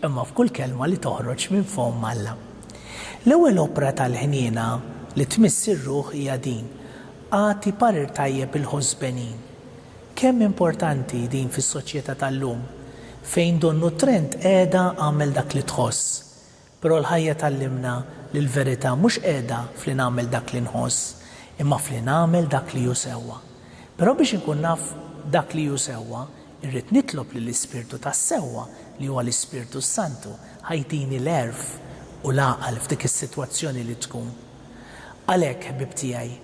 imma f'kull kelma li toħroġ minn fomm Alla. L-ewwel opra tal-ħniena li tmiss ir-ruħ hija din, Agħti parir tajjeb il-ħosbenin. Kemm importanti din fis-soċjetà tal-lum, fejn donnu t-trend qiegħda agħmel dak li tħoss. Però l-ħajja tgħallimna li l-verità mhux qiegħda f'li nagħmel dak li nħoss, imma f'li nagħmel dak li hu sewwa. Però biex inkun naf dak li hu sewwa, Irrid nitlob li l-Ispirtu tas-sewwa, li huwa l-Ispirtu s-Santu, ħa jtini l-għerf u l-għaqal f'dik is-sitwazzjoni li tkun. Għalhekk, ħbieb tiegħi,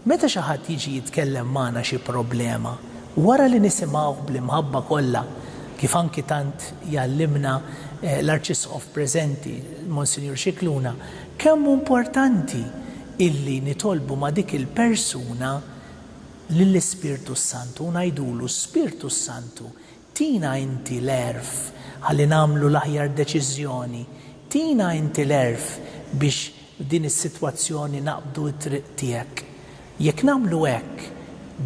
meta xi ħadd jiġi jitkellem magħna xi problema, wara li nisimgħuh bl-imħabba kollha, kif anki tant jgħallimna l-Arċisqof preżenti, Monsinjur Scicluna, kemm hu importanti illi nitolbu ma' dik il-persuna, lill-Ispirtu s-Santu u ngħidulu, Spirtu s-Santu, tina inti l-għerf ħalli nagħmlu l-aħjar deċiżjoni, tina inti l-għerf biex f'din is-sitwazzjoni naqbdu t-triq tiegħek. Jekk nagħmlu hekk,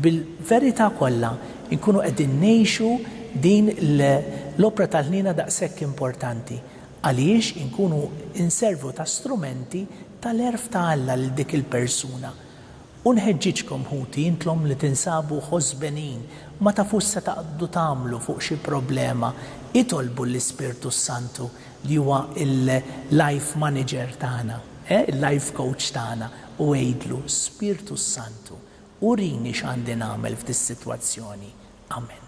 bil-verità kollha nkunu qegħdin ngħixu din l-opra tal-ħniena daqshekk importanti, għaliex inkunu nservu ta' strumenti tal-għerf ta' Alla lil dik il-persuna. U nħeġġiġkom, ħuti, intlom li tinsabu ħosbenin, ma tafux se taqbdu tagħmlu fuq xi problema, itolbu l-Ispirtu s-Santu li huwa l-life manager tagħna, eh, il-life coach tagħna, u għidlu, Spirtu s-Santu, urini x'għandi nagħmel f'dis-sitwazzjoni. Amen.